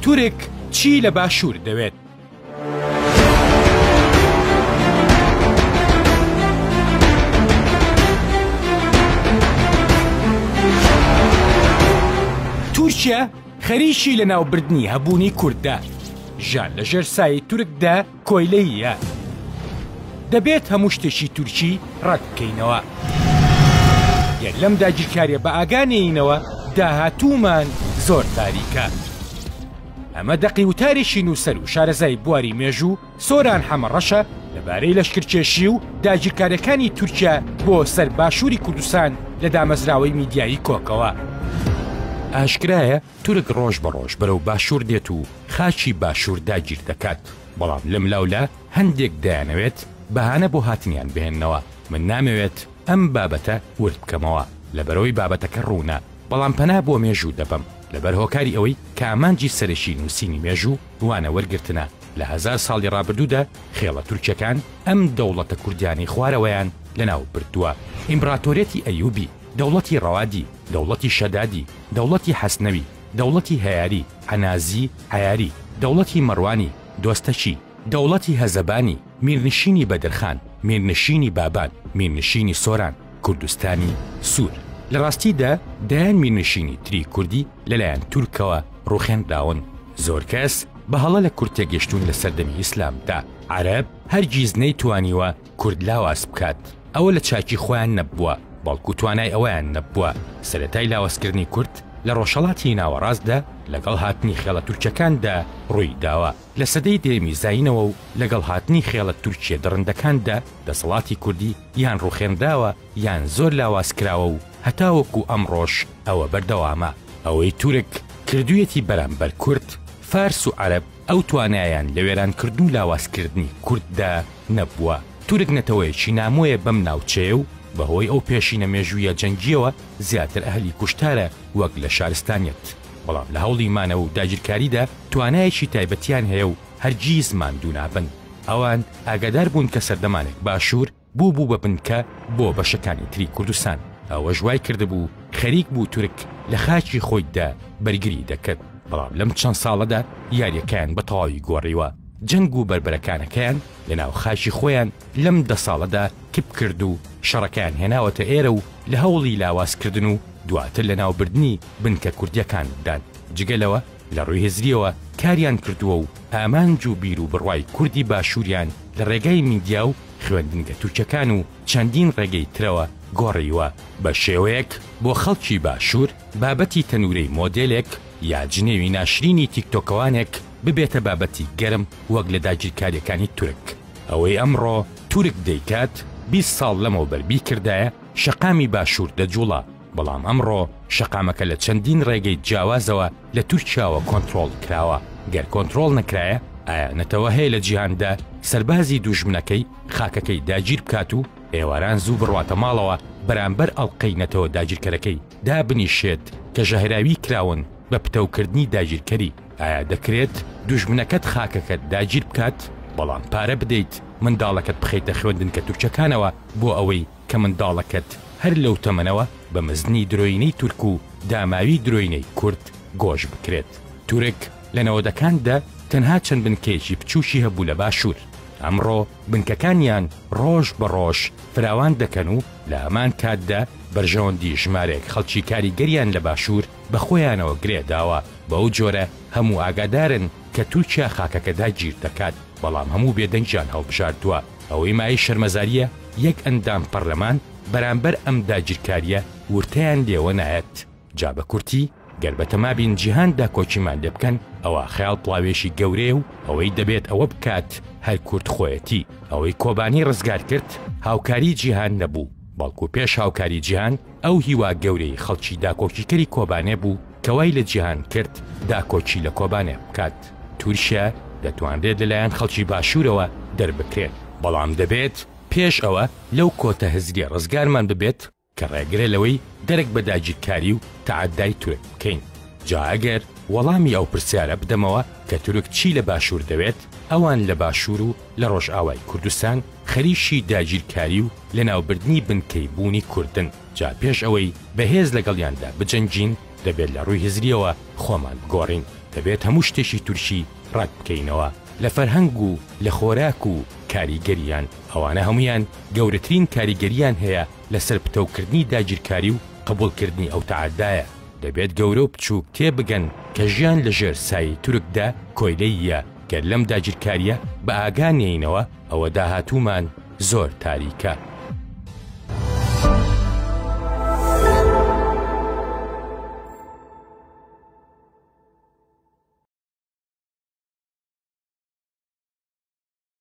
تورک چی لە باشوور دەوێت؟ تورکیا خەریکی لەناوبردنی هەبوونی کورددا ژان لەژێر سای تورکدا کۆیلەی یە دەبێت هەموو شتێکی تورکی ڕەت بکەینەوە گەر لەم داگیرکاریە بە ئاگا نێینەوە داهاتوومان زۆر تاریکە ئەمە دەقی وتارێکی نووسەر و شارەزای بواری مێژوو سۆران حەمەڕەشە لەبارەی لەشکرکێشی و داگیرکاریەکانی تورکیا بۆ سەر باشووری کوردستان لە دامەزراوەی میدیایی کۆکەوە ئاشکرایە تورک ڕۆژ بە ڕۆژ بەرەو باشوور دێت و خاکی باشوور داگیر دەکات، بەڵام لەملاولا هەندێک دەیانەوێت بەهانە بۆ هاتنیان بهێننەوە، من نامەوێت ئەم بابەتە ورد بکەمەوە، لەبەرئەوەی بابەتەکە ڕوونە، بەڵام پەنا بۆ مێژوو دەبەم، لەبەر هۆکاری ئەوەی کە ئامانجی سەرەکی نووسینی مێژوو وانە وەرگرتنە لە هەزار ساڵی ڕابردوودا، خێڵە تورکیەکان ئەم دەوڵەتە کوردیانەی خوارەوەیان لەناو بردووە، ئیمبڕاتۆریەتی ئەیوبی. دەوڵەتی ڕەوادی، دەوڵەتی شەدادی، دەوڵەتی حەسنەوی، دەوڵەتی هەیاری، عەنازی، عەیاری، دەوڵەتی مەڕوانی، دۆستەکی، دەوڵەتی هەزەبانی، میرنشینی بەدرخان، میرنشینی بابان، میرنشینی سۆران، کوردستانی سوور. لە ڕاستی دا دەیان میرنشینی تری کوردی لە لایەن تورکەوە ڕووخێنراون. زۆر کەس بە هەڵە لە کورد تێگەشتوون لە سەردەمی ئیسلام دا عەرەب هەرگیز نەیتوانیوە کورد لاواز بکات، ئەوە لە چاکی خۆیان نەبووە، بەڵکو توانای ئەوەیان نەبووە، سەرەتای لاوازکردنی کورد لە ڕۆژهەڵاتی ناوەڕاستدا لەگەڵ هاتنی خێڵە تورکەکاندا ڕووی داوە، لە سەدەی دەیەمی زایینەوە و لەگەڵ هاتنی خێڵە تورکییە دڕندەکاندا دەسەڵاتی کوردی یان ڕووخێنراوە یان زۆر لاواز کراوە و هەتاوەکو ئەمڕۆش ئەوە بەردەوامە. ئەوەی تورک کردوویەتی بەرامبەر کورد، فارس و عەرەب، ئەو توانایان لە وێرانکردن و لاوازکردنی کورددا نەبووە. تورک نەتەوەیەکی نامۆیە بەم ناوچەیە و بەهۆی ئەو پێشینە مێژوویە جەنگییەوە زیاتر ئەهلی کوشتارە وەک لە شارستانیەت، بەڵام لە هەوڵی مانەوە و داگیرکاریدا توانایەکی تایبەتیان هەیە و هەرگیز ماندوو نابن. ئەوان ئاگادار بوون کە سەردەمانێک باشوور، بووبوو بە بنکە بۆ بەشەکانی تری کوردستان، ئەوەش وای کردبوو خەریک بوو تورک لە خاکی خۆیدا بەرگری دەکرد، بەڵام لەم چەند ساڵەدا یاریەکەیان بە تەواوی گۆڕیوە، جەنگ و بەربەرەکانەکەیان لە ناو خاکی خۆیان لەم دە ساڵەدا کپ کرد و شەڕەکەیان هێناوەتە ئێرە و لە هەوڵی لاواز کردن و دواتر لە ناو بردنی بنکە کوردیەکان دان، جگە لەوە لە ڕووی هزریەوە کاریان کردووە و ئامانج و بیر و بڕوای کوردی باشووریان لە ڕێگای میدیا و. خوێندنگە تورکەکان و چەندین ڕێگەی ترەوە گۆڕیوە، بە شێوەیەک بۆ خەڵکی باشوور بابەتی تەنوورەی مۆدێلێک یا جنێوی ناشرینی تیکتۆکەوانێک ببێتە بابەتی گەرم وەک لە داگیرکارییەکانی تورک. ئەوەی ئەمڕۆ تورک دەیکات بیست ساڵ لەمەوبەر بیکردایە شەقامی باشوور دەجوڵا. بەڵام ئەمڕۆ شەقامەکە لە چەندین ڕێگەی جیاوازەوە لە تورکیاوە کۆنترۆڵ کراوە، گەر کۆنترۆڵ نەکرایە ئایا نەتەوە هەیە لە جیهاندا سەربازی دووژمنەکەی خاکەکەی داگیر بکات و ئێواران زوو بڕواتە ماڵەوە بەرامبەر ئەڵقەی نەتەوە داگیرکەرەکەی دابنیشێت کە ژەهراوی کراون بە پتەوکردنی داگیرکەری ئایا دەکرێت دووژمنەکەت خاکەکەت داگیر بکات بەڵام پارە بدەیت منداڵەکەت بخەیتە خوێندنکە تورکەکانەوە بۆ ئەوەی کە منداڵەکەت هەر لەو تەمەنەوە بە مەزنی درۆینەی تورک و داماوی درۆینەی کورد گۆش بکرێت. تورک لە نەوەدەکان دە تەنها چەند بنکەیەکی بچوکی هەبوو لە باشور، ئەمڕۆ بنکەکانیان ڕۆژ بە ڕۆژ فراوان دەکەن و لە هەمان کات دە بەرژەوەندی ژمارەیەک خەڵکی کاریگەریان لە باشور بە خۆیانەوە گرێ داوە، بەو جۆرە هەموو ئاگادارن کە تورکیا خاکەکە داگیر دەکات، بەڵام هەموو بێدەنگیان هەڵبژاردوە. ئەوەی مایەی شەرمەزارییە یەک ئەندام پەرلەمان بەرامبەر ئەم داگیرکارییە ورتەیان لێوە نایەت، جا بە کورتی گەر بە تەمابین جیهان داکۆکیمان لێ بکەن ئەوا خەیاڵ پڵاوێکی گەورەیە و ئەوەی دەبێت ئەوە بکات هەر کورد خۆیەتی، ئەوەی کۆبانی ڕزگار کرد هاوکاری جیهان نەبوو بەڵکو پێش هاوکاری جیهان، ئەو هیوا گەورەی خەڵکی داکۆکیکەری کۆبانێ بوو کە وای لە جیهان کرد داکۆکی لە کۆبانێ بکات. تورکیا دەتوانرێت لەلایەن خەڵکی باشوورەوە دەربکرێت، بەڵام دەبێت پێش ئەوە لەو کۆتە هزریە ڕزگارمان ببێت کە ڕێگرە لەوەی دەرک بە داگیرکاری و تەعەدای تورک بکەین. جا ئەگەر وەڵامی ئەو پرسیارە بدەمەوە کە تورک چی لە باشوور دەوێت، ئەوان لە باشوور و لە ڕۆژئاوای کوردستان خەریکی داگیرکاری و لەناوبردنی بنکەی بوونی کوردن، جا پێش ئەوەی بەهێز لەگەڵیاندا بجەنگین دەبێت لە ڕووی هزریەوە خۆمان بگۆڕین، دەبێت هەموو شتێکی تورکی ڕەت بکەینەوە لە فەرهەنگ و لە خۆراک و کاریگەریان، ئەوانە هەموویان گەورەترین کاریگەریان هەیە لەسەر پتەوکردنی داگیرکاری و قبوڵکردنی ئەو تەعەدایە، دەبێت گەورە و بچووک تێبگەن کە ژیان لەژێر سایەی تورکدا کۆیلەییە گەر لەم داگیرکاریە بە ئاگا نێینەوە ئەوە داهاتوومان زۆر تاریکە.